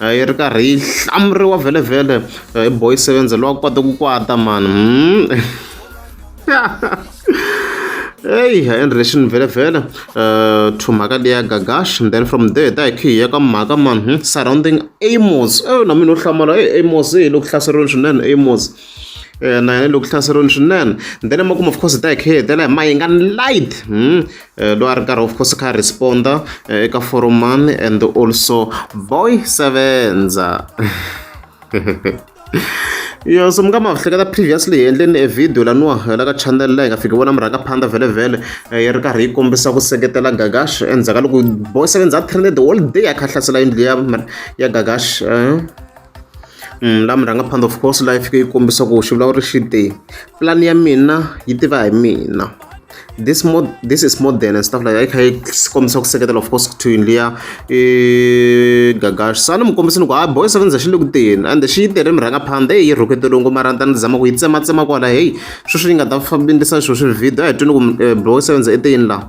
yi ri karhi yi hlamuriwa vhelevhele hi boy sevenze lowa kote ku kwata mani hmm. eyi hi enrelation vhelevhele eh, to mhaka leya gagash and then from there ta hi khihi ya ka mhaka man hmm, surrounding amos e na mina u hlamala e amos hi loko hlaseriweni swinene amos eh, na yena loko hlaseriweni swinene then emakumu of course hi ta hi khihi hi tela hi mayingani light hmm, Eh, loyi a ri karhi of course kha responda eh, eka forum man and also boy sevenza yo so mi nga ma hleketa previously hi endleni e video laniwa la ka channel la hi nga fiki vona mi rhanga phanda vhele vhele eh, yi ri karhi yi kombisa ku seketela gagash endzhaku ka loko boy sevenza a trended all day a kha hlasela yindlu ya ya gagash la murhangaphanḓa of course la yi fike yi kombisa ku xivulavuri xi te plan ya mina yi tiva hi mina this mod this is modern and stuff like that kha yi kombisa ku seketela of course kuthiwini liya i gagash sani mi kombisa ni ku ha boy seven za xi le ku teni and xi yi tere murhangaphanḓa eyi yi rhukete longo mara ni ta ni zama ku yi tsematsema kwala heyi sweswi yi nga ta fambisa sweswi video a hi twini ku boy seven za i teyini laha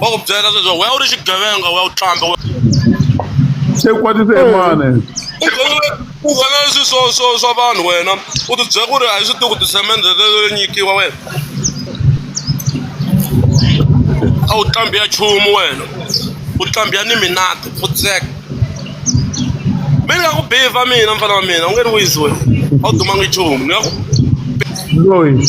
va ku byela leswaku wena u ri xigevenga wa u tlamba se kwatise emane u vona leswi swo swo swa vanhu wena u ti byela ku ri a yi swi tiku tisemende leyo nyikiwa wena a wu tlambi ya nchumu wena u tlambi ya ni minati u tseka mi ni nga ku biva mina mfana wa mina u nge ni wisi wena a wu dumanga nchumu ni nga ku loyi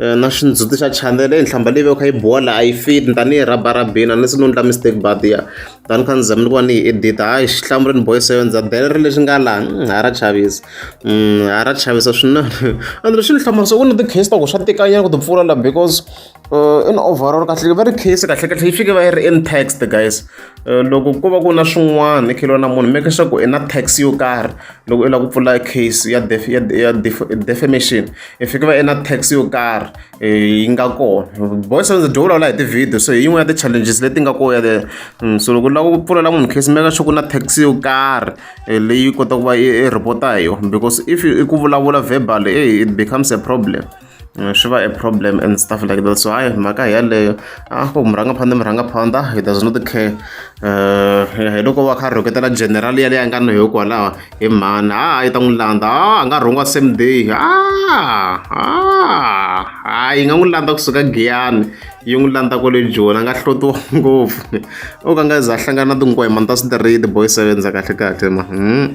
Na xindzhuti xa chanele i nhlamba leyi veke yi biwa la a yi fit ni ta ni yi rhaba rhabini a ni se ni endla mistake but ya ta ni kha ni zama ni ku va ni yi edita hayi xihlamu ri ni bohe so ndza dela ri lexi nga laha ha ra chavisa ha ra chavisa swinene and lexi ni hlamala so ku na ti-case ta ku swa tikanyana ku ti pfula la because in overall kahle va ri case kahle kahle yi fike va yi ri in text guys loko ko va ku na swin'wana ni kheliwa na munhu make sure ku i na tax yo karhi loko i lava ku pfula case ya ya ya defamation. hi fike va ena tax yo karhi yi nga kona boys on the door vulavula hi ti-video so hi yin'wana ya ti-challenges leti nga koya there mm, so loko u lava ku pfulela munhu case meka sure ku na tax yo karhi eh, leyi kota ku va i report-a hi yona because if i ku vulavula verbal e it becomes a problem mm, swi va a problem and stuff like that so hayi mhaka hi yaleyo a ah, ku murhanga phanda murhanga phanda he does not care um hi loko va kha rhoketela general yaleyi a nga na yo kwalaho He mhani ha yi ta n'wi landza a a nga rhungiwa same day a a ha yi nga n'wi landza kusuka giyani yi n'wi landza kwale joni a nga hlotiwa ngopfu o ka nga za a hlangana na tinkwemani ta switiridi boy sevenza kahle kahle ma hmm.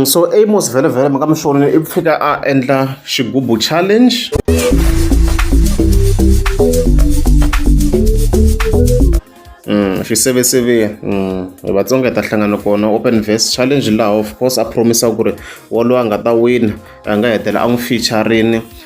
so Amos vhelemvhele mhaka mi swona i fika a endla xigubu challenge xiseveseve hi vatsonga hi ta hlangana kona open verse challenge laha of course a promisa ku ri wolowo a nga ta wina a nga hetela a n'wi featurini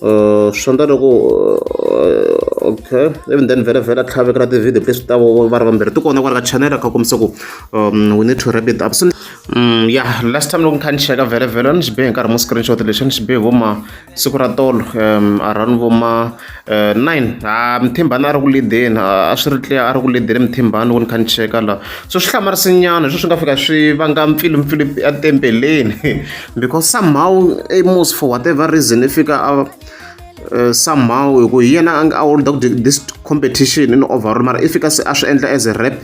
Uh, swi endla loko uh, okay even then vhela vhela tlhavekela ti-video leswi ta va ri vambirhi ti kona kwala ka channel kha kombisa ku um we need to wrap it up so um ya last time loko ni kha ni cheka vhele vhela ni xi bihe hi nkarhi mo screenshot lexi ni xi bihe vo ma siku ra tolo um around vo ma uh, nine ha mithimbani a ri ku lideni a swi ri tliya a ri ku lideni mithimbani loko ni kha ni cheka la so swi hlamarisinyana hi swo swi nga fika swi vanga mpfilumpfilu etempeleni because somehow amos for whatever reason i fika a uh, somehow hi ku hi yena a holda ku this competition in overall mara i fika se a swi endla as a rap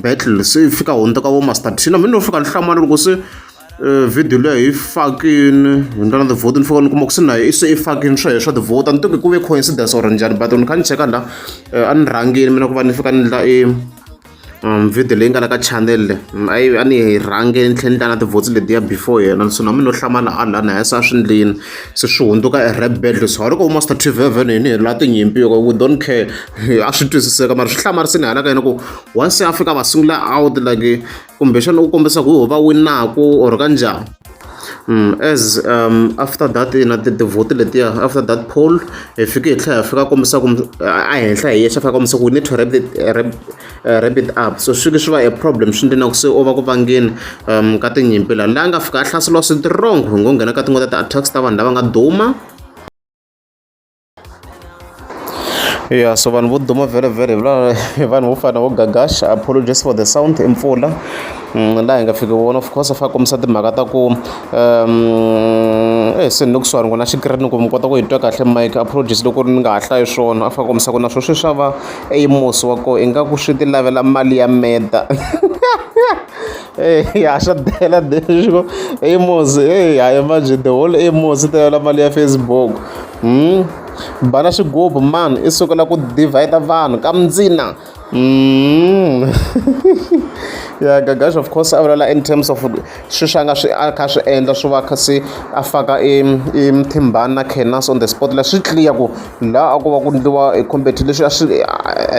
battle se i fika hundza ka vo master tina mi no fika ni hlamala loko se uh, video leyo hi fakini hi ndlela na ti-vote ni fika ni kuma ku se na i se i fakini swo heswa ti-vote a ni tivi ku ve coincidence or njhani but ni kha ni cheka la uh, a ni rhangini mina ku va ni fika ni ndla i video leyi nga la ka channel a yi a ni yi rhange ni tlhela ni ta na tivhotsi letiya before yena so na mina no hlamala a lana ya sa swi ndlini se swi hundzuka e rap battle so loko master tv evhene yini hi la tinyimpi yoko we don't care a swi twisiseka mara swi hlamarisini hala ka yena ku once afrika va sungula out like kumbexana u kombisa ku va winaku or ka njhani As after that ina ti-vote letiya after that poll hi fike hi tlhela hi fika kombisa ku a henhla hi yexe a fika a kombisa ku we need to wrap it wrap wrap it up so swi fike swi va a problem swi endle na ku se u va ku vangeni ka tinyimpi laha la nga fika a hlaseriwa strong hi ngo nghena ka tin'wana ta ti-attacks ta vanhu lava nga duma. yeah so vanhu vo duma vhele vhele vanhu vo fana vo gagash apologies for the sound i mpfula mm, laha hi nga fiki vona of course fa kombisa timhaka ta ku um eh se ni ku swani ku na xikirini ku mi kota ku hi twa kahle mike apologies loko ni nga ha hlayi swona a fa kombisa ku na swo swi swa va eimosi wa koho ingaku swi ti lavela mali ya meda Eyi ha swa bela leswo Amos eyi ha imagine the whole Amos ta yola mali ya Facebook hmm? bana xigubu man i sukela ku divide vanhu ka mindzina hmm? ya gagash of course a vulela in terms of swi swa nga swi a kha swi endla swi va kha se a faka e, e mthimbani na canas on the spot la swi clear ku laha a ku va ku ndliwa e competi leswi a swi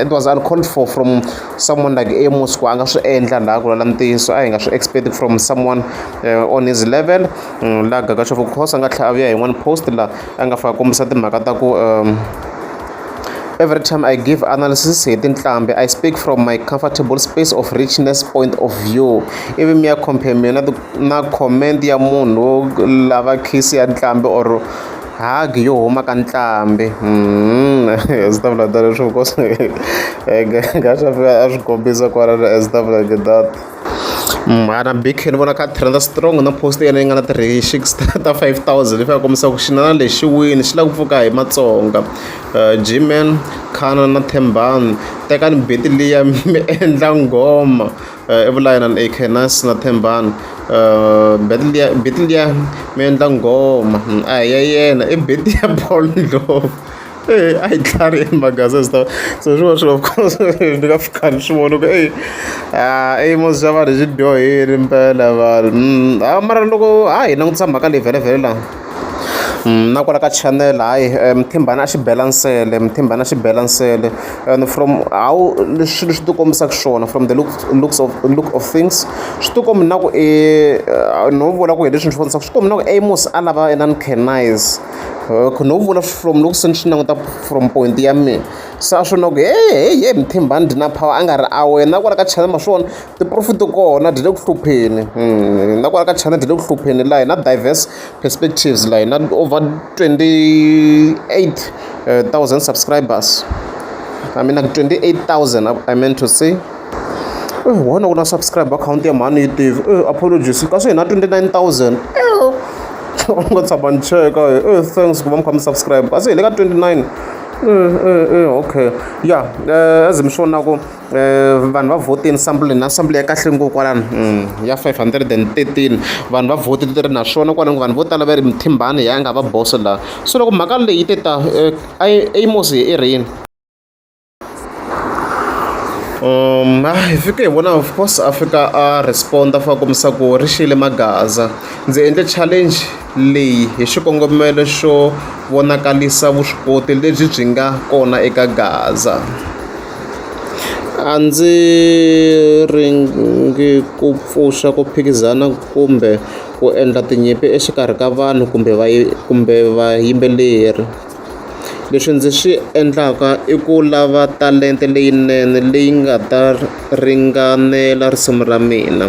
it was uncalled for from someone like Amos ku a nga swi endla laha ku lala ntiyiso a hi nga swi expect from someone uh, on his level mm, laha gagaxof course a nga tlhela a vuya hi one post laha a nga fika kombisa timhaka ta ku um, Every time I give analysis hi tinhlambi, I speak from my comfortable space of richness point of view. Ivi mi ya compare mina na comment ya munhu lava kiss ya ntlhambi or hagi yo huma ka ntlhambi ndzi ta vula tano leswaku cause a swi kombisa kwala a ndzi ta vula ku ri that mhana big khale ni vona kha a trend-a strong na post ya yena yi nga na ti-reshix ta ta five thousand leswi ya kombisaka ku xinana lexi xi wile xi lava ku pfuka hi matsonga Gman, Canon na Thembani tekani buti liya mi endla nghoma. Evulayi na Akhenas na Thembani, Betliya mi endla nghoma a hi ya yena i Betliya Paul Ndlovu eyi a yi tlhariha maghaza a ndzi ta se swi vona swilo of course ni nga pfuka ni swi vona ku eyi i yimo xa vanhu xi dyohile mpela vanhu a mara loko ha yi langutisa mhaka leyi vhele vhele la. Na kwala ka channel hayi muthimbana a xi bela nsele muthimbana a xi bela nsele and from how swilo swi ti kombisaka xiswona from the looks looks of look of things swi ti komba ingaku i no vula ku hi leswi ni swi vonisaka swi ti komba ingaku i musi a lava inana canise hi no vula from loko se ni swi languta from point ya mehe se a swi vona ku heyi heyi muthimbana dlina power a nga ri a wena na kwala ka channel ma swi vona. ti-profit to kona ti le ku hlupheni na kwala ka china ti le ku hlupheni laha hi na diverse perspectives laha hi na over twenty eight thousand subscribers I mean like twenty eight thousand I meant to say wona ku na subscribe akhawunti ya mhani yi tivi apologies kasi hi na twenty nine thousand u nga tshama ni cheka e thanks ku va mi kha mi subscribe kasi hi le ka twenty nine okay ya as mi swi vonaka. vanhu va vhotile nhlamulo leyi na nhlamulo ya kahle ngopfu kwalano ya five hundred and thirteen vanhu va vote ti ri naswona kwalano vanhu vo tala va ri mithimbani hi yena a nga va boso laha so loko mhaka leyi yi te ta a yi a yi mose hi rini hi fike hi vona of course a fika a respond-a a fika a kombisa ku ri xiyile maghaza ndzi endle challenge leyi hi xikongomelo xo vonakarisa vuswikoti lebyi byi nga kona eka gaza. A ndzi ringi ku pfuxa ku phikizana kumbe ku endla tinyimpi exikarhi ka vanhu kumbe va kumbe vayimbeleri leswi ndzi swi endlaka i ku lava talenta leyinene leyi nga ta ringanela risimu ra mina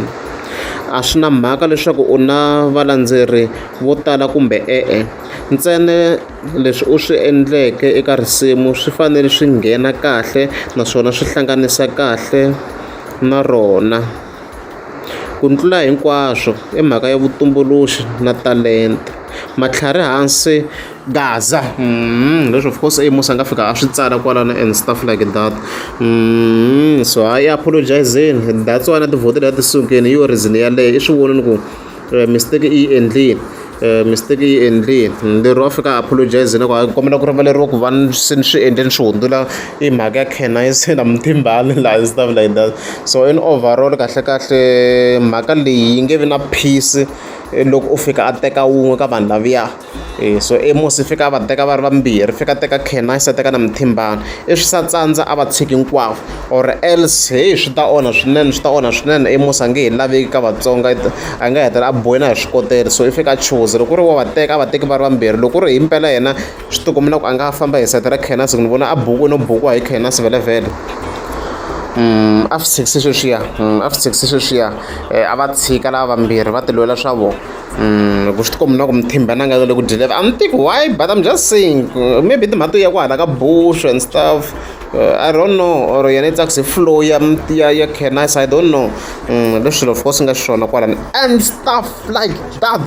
a swi na mhaka leswaku u na valandzeri vo tala kumbe e-e ntsena. Leswi u swi endleke eka risimu swi fanele swi nghena kahle naswona swi hlanganisa kahle na rona. Ku tlula hinkwaswo i mhaka ya vutumbuluxi na talenta. Matlhari hansi gaza leswi of course Amos a nga fika a swi tsala kwalano and stuff like that so hayi apologise-zeni that's why na tivhoto leti a ti sukile hi yona reason yeleyo i swi vonile ku. eh, mistake i yi endlile eh, mistake yi endlile lero a fika apologize loko a kombela ku rivaleriwa ku va se ni swi endle ni swi hundzula i mhaka ya canise na muthimbani laha stuff like that so in overall kahle kahle mhaka leyi yi nge vi na peace eh, loko u fika a teka wun'we ka vanhu laviya E so e musi i fika a va teka va ri vambirhi fika a teka Khenasi a teka na Muthimbani i swi sa tsandza a va tshiki hinkwavo or else heyi swi ta onha swinene swi ta onha swinene i musi a nge he laveki ka Vatsonga a nga hetelela a biwe na hi swikotela so i fika a chuza loko ku ri wa va teka a va teki va ri vambirhi loko ku ri hi mpela yena swi ti komba na ku a nga famba hi nsati ra Khenasi ni vona a buku no bukiwa hi Khenasi vhelemuvhele a swi tshikisa sweswiya a swi tshikisa sweswiya a va tshika lava vambirhi va ti lwela swa vona. loko swi tikomba na ku mi thimba na nga le ku dyeleva I'm think why but I'm just saying uh, maybe timhaka ya ku hala ka bush and stuff uh, I don't know or yena yi tsakise flow ya ya ya canis I don't know mm, leswi swilo of course nga xiswona kwalani and stuff like that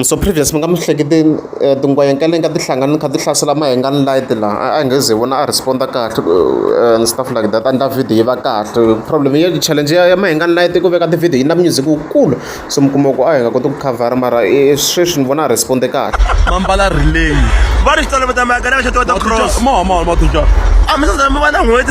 so previous mi nga mi hleketeni eh, tingwayenka leyi nga ti hlangani kha ti hlasela mahengani light laha a hi nge ze vona a responda kahle eh, and stuff like that andla video yi va kahle problem ya challenge ya ya mahengani light ku veka ti-video yi na music wukulu so mi kuma ku a hi nga koti ku covera mara eh, sweswi ni vona a responde kahle mambala relay va ri xitolo va ta maka na va xitolo ta cross mo mo mo tuja a mi sa mi va na n'hweti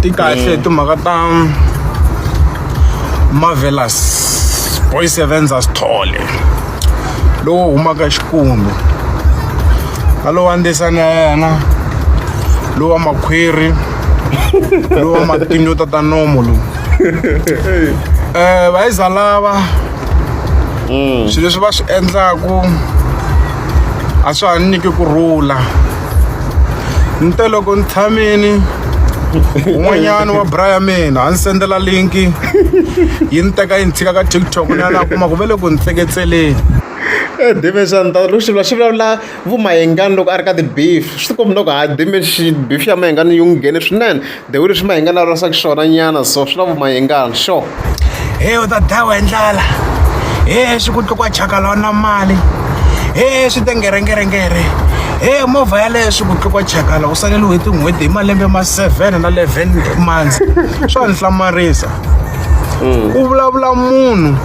ti kahle hi timhaka ta marvelous boys events asithole lowo humaka xikumbe na lowa ndesani ya yena lowa makhwiri lowa matinyo tata nomo lowu um vayiza lava swilo leswi va swi endlaku a swa ha ni nyiki ku rhula ni te loko ni tshamini un'wanyana wa bra ya mina a ni sendela linki yi ni teka yi ni tshika ka tiktok ni ya na kuma ku ve le ku ni tseketseleni eh, dimension ta loko xivula xi vulavula vumayengani loko a ri ka ti-beef swi tikombi loko ha dimension beef ya mayengani yi n'wi nghene swinene the way leswi mahinga na rasa xiswona nyana so swi na vumahingana sure he u ta dlawa hi ndlala he swi ku tlukwa chakala wa na mali he swi te ngerengerengere he movha yaleyo swi ku tlukwa chakala u saleliwe hi tin'hweti hi malembe ma seven na leven months swa ni hlamarisa ku vulavula munhu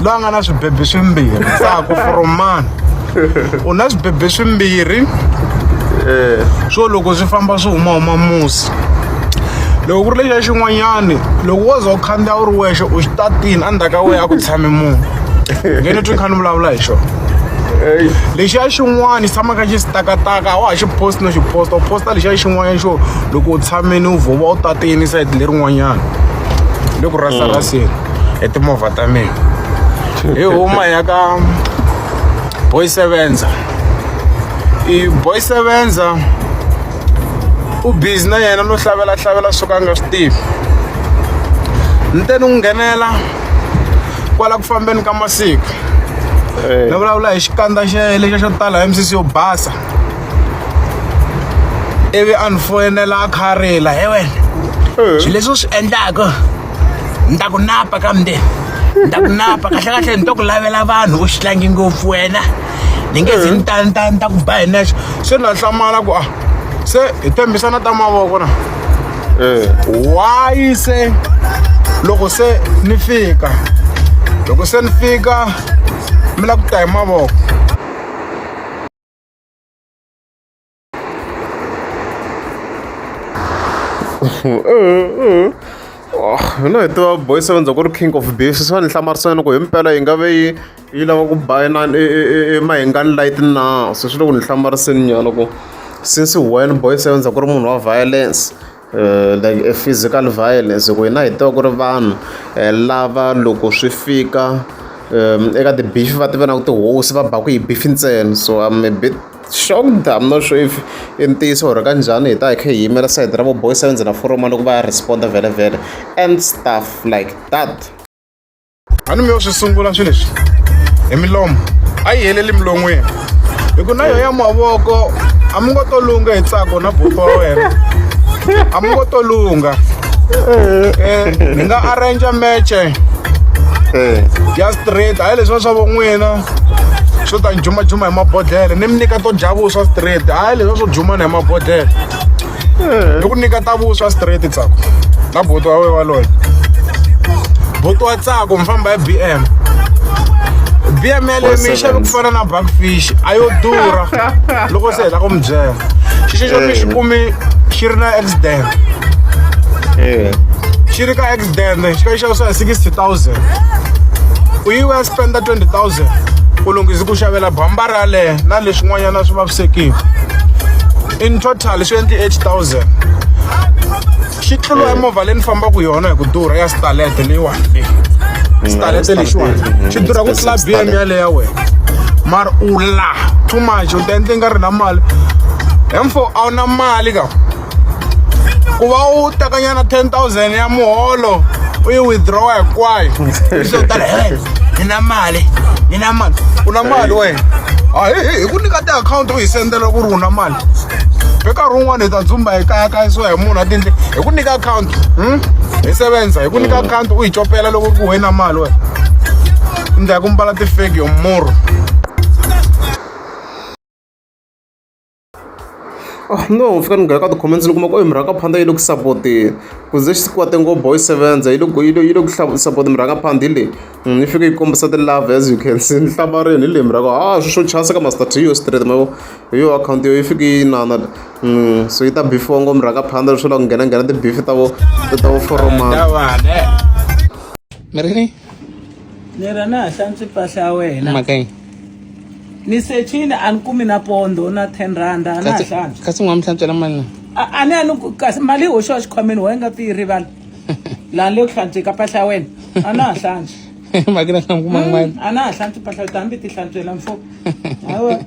loyi a nga na swibebi swimbirhi tsako from mani u na swibebe swimbirhi eh. swo loko swi famba swi humahuma musi loko ku ri lexa xin'wanyani loko wo za u khandziya u ri wexe u xi tatini endzhaku ka wehe a ku tshame munhu nge ni twi ni kha ni vulavula hi xona lexiya xin'wana xi tshamaka xi sitakataka a wa ha xi post no xi posta u posta lexiya xin'wanyana xo loko u tshameni u vhova u tatini sayiti lerin'wanyana le ku rasaraseni mm. hi timovha ta mina hi huma ya ka boy sevenza i boy sevenza u busy na yena no hlavelela hlavelela swo ka a nga swi tivi ni te ni n'wi nghenela kwala ku fambeni ka masiku eh. ni vulavula hi xikandza xe lexa xo tala hi misisi yo basa ivi a ni foyinela a kha a rila he wena eh. swilo leswi u swi endlaka ni ta ku napa ka mundeni ni ta ku napa kahlekahle ni to ku lavela vanhu u xi tlangi ngopfu wena ni nge zi ni ta ni ta ni ta ku ba hi nexo se ni la hlamala ku a se hi tembisana ta mavoko na why se loko se ni fika loko se ni fika mi la ku ta hi mavoko hi lo heta boy seven ku ri king of beef swi va ni hlamarisana ku himpela yi nga ve yi yi lava ku ba inani emahingani light na se swi le ku ni hlamariseni nyana ku since when boy seven ku ri munhu wa violence. like a physical violence hi ku hina hi tiva ku ri vanhu lava loko swi fika eka ti-beef va ti vona ku tihosi va baka hi beef ntsena so I'm a bit shocked I'm not sure if i ntiyiso or ka njhani hi ta hi kha hi yimela sayiti ra vo boys va ndzhena foromo loko va ya respond-a vhele vhele and stuff like that. a ni mi yo swi sungula swilo leswi hi milomo a yi heleli milon'wini hi ku na yo ya mavoko a mi ngo to lungha hi tsako na buku wa wena a mi ngo to lungha um ni nga arrangea meche ya straight hayi leswiwa swa vo n'wina swo ta ni jumajuma hi mabodhlele ni mi nyika to dya vuswa straight hayi leswiwa swo jumana hi mabodhlele ni ku nyika ta vuswa straight tsako na boto wa we waloye boto wa tsako mi famba hi b m b m yale mi yi xave ku fana na backfish a yo durha loko se heta ku mi byela xixi xo mi xi kumi xi ri na accident xi ri ka accident xi ka xi xavisiwa hi sixty thousand u yi wa spenda twenty thousand u lunghise ku xavela bambara yaleyo na leswin'wanyana swi vavisekile in total swi endli 8000 xi tlula eh. movha leyi ni fambaka yona hi ku durha ya stalete leyiwani leyi mm, stalete lexiwani mm, xi durha ku tlula bm yaleyo ya wena mara u la too much u ta endle nga ri na mali hemfo a wu na mali ka ku va u tekanyana 10000 ya muholo u yi withdraw hinkwayo swo tala he ni na mali ni na mali u na mali wena a hi ku nyika tiakhawunti hi sendela ku ri u na mali hi nkarhi wun'wana hi ta dzumba hi kayakayisiwa hi munhu a tindle hi ku nyika akhawunti hmm? hi sevenza hi ku nyika mm. akhawunti u yi copela loko ku wena mali wena ndla ya ku mbala tifeki yo murhu Oh, no fika ni nghena ka ti-comments ni kuma ku oyi murhangaphandla yi le ku sapoteni ku ze xi kwate ngo boy sevenza yi le ku yi le yi le ku sapota murhangaphandhi leyi Mm, yi fike yi kombisa ti-love as you can see ni hlamarini hi lembi ra ku ha swi swo chasa ka master to yo straight ma vo hi yo akhawunti yo yi fike yi nana mm, so yi ta bifiwa ngombe rhanga phanda leswo la ku nghena nghena tibifi ta vo ta vo foromana mi ri ni ni ra na ha hlantswi mpahla ya wena mhakayi ni sechini a ni kumi na pondo na ten rand a na ha hlantswi kasi n'wa mi hlantswela mali na a a ni a ni kasi mali yi hoxiwa xikhwameni wa yi nga ti yi rivala lani leyo hlantsweka mpahla ya wena a na ha hlantswi makina xi kuma hmm, mali a na ha hlantswi mpahla yo hambi ti hlantswela mfo hawa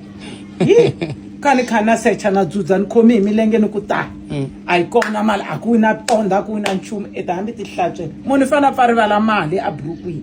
yi ka ni kha na secha na dzudza ni khomi hi milenge ni ku ta hmm. a yi kona mali a ku na ponda a ku na nchumu e ta hambi ti hlantswela munhu i fanele a pfa rivala mali eburukwini